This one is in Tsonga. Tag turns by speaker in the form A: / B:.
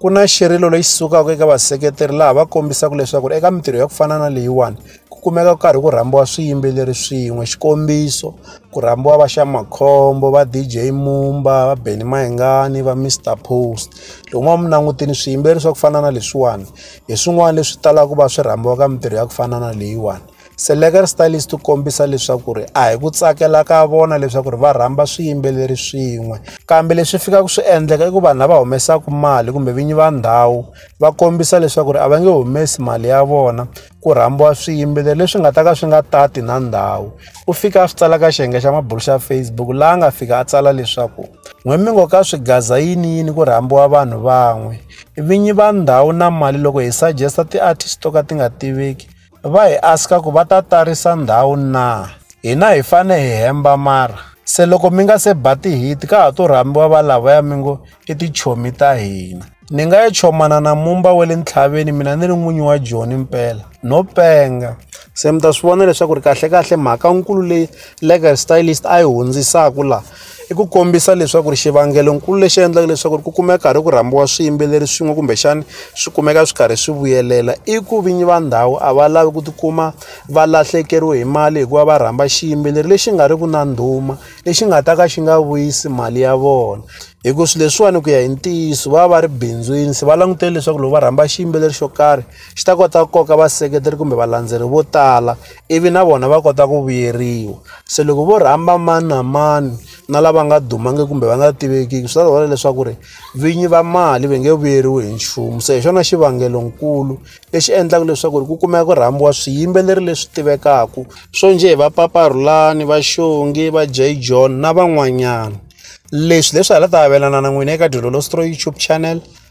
A: ku na xirilo lexi sukaka eka vaseketeri laha va kombisaka leswaku eka mintirho ya ku fana na leyiwani ku kumeka ku karhi ku rhambiwa swiyimbeleri swin'we xikombiso ku rhambiwa va xa makhombo va dj mumba va beni mahingani va mr post loko ma mi langutini swiyimbeleri swa ku fana na leswiwani hi swin'wana leswi talaka ku va swi rhambiwa ka mintirho ya ku fana na leyiwani Selekar Stylists ti kombisa leswaku ri a hi ku tsakela ka vona leswaku ri va rhamba swiyimbeleri swin'we kambe leswi fikaka swi endleka i ku vanhu lava humesaka mali kumbe vinyi va ndhawu va kombisa leswaku ri a va nge humesi mali ya vona ku rhambiwa swiyimbeleri leswi nga ta ka swi nga tati na ndhawu u fika a swi tsala ka xiyenge xa mabulu xa Facebook laha a nga fika a tsala leswaku n'we mi ngo ka swigaza yini yini ku rhambiwa vanhu van'we vinyi va ndhawu na mali loko hi suggesta ti-artist to ka ti nga tiveki va hi aska ku va ta tarisa ndhawu na hina hi fane hi hemba mara se loko mi nga se ba tihiti ka ha to rhambiwa va lavaya mi ngo i tichomi ta hina ni nga ya chomana na mumba wa le ntlhaveni mina ni ri n'winyi wa joni mpela no penga se mi ta swi vona leswaku ri kahlekahle mhaka nkulu leyi legal stylist a yi hundzisaka laha i ku kombisa leswaku ri xivangelonkulu lexi endlaka leswaku ri ku kumeka karhi ku rhambiwa swiyimbeleri swin'we kumbexani swi kumeka swi karhi swi vuyelela i ku vinyi va ndhawu a va lavi ku tikuma va lahlekeriwe hi mali hikuva va rhamba xiyimbeleri lexi nga ri ku na ndhuma lexi nga ta ka xi nga vuyisi mali ya vona hikuva swilo leswiwani ku ya hi ntiyiso va va va ri bindzwini se va langutele leswaku loko va rhamba xiyimbeleri xo karhi xi ta kota ku koka vaseketeri kumbe valandzeri vo tala ivi na vona va kota ku vuyeriwa se loko vo rhamba mani na mani na lava nga dumangiki kumbe va nga tivekiki swi ta vona leswaku ri vinyi va mali va nge vuyeriwi hi nchumu se hi xona xivangelonkulu lexi endlaka leswaku ri ku kumeka ku rhambiwa swiyimbeleri leswi tivekaka swo njhe va paparhulani va xongi va jay john na van'wanyana leswi leswi hala ta avelana na n'wina eka dyondzo lostroi youtube channel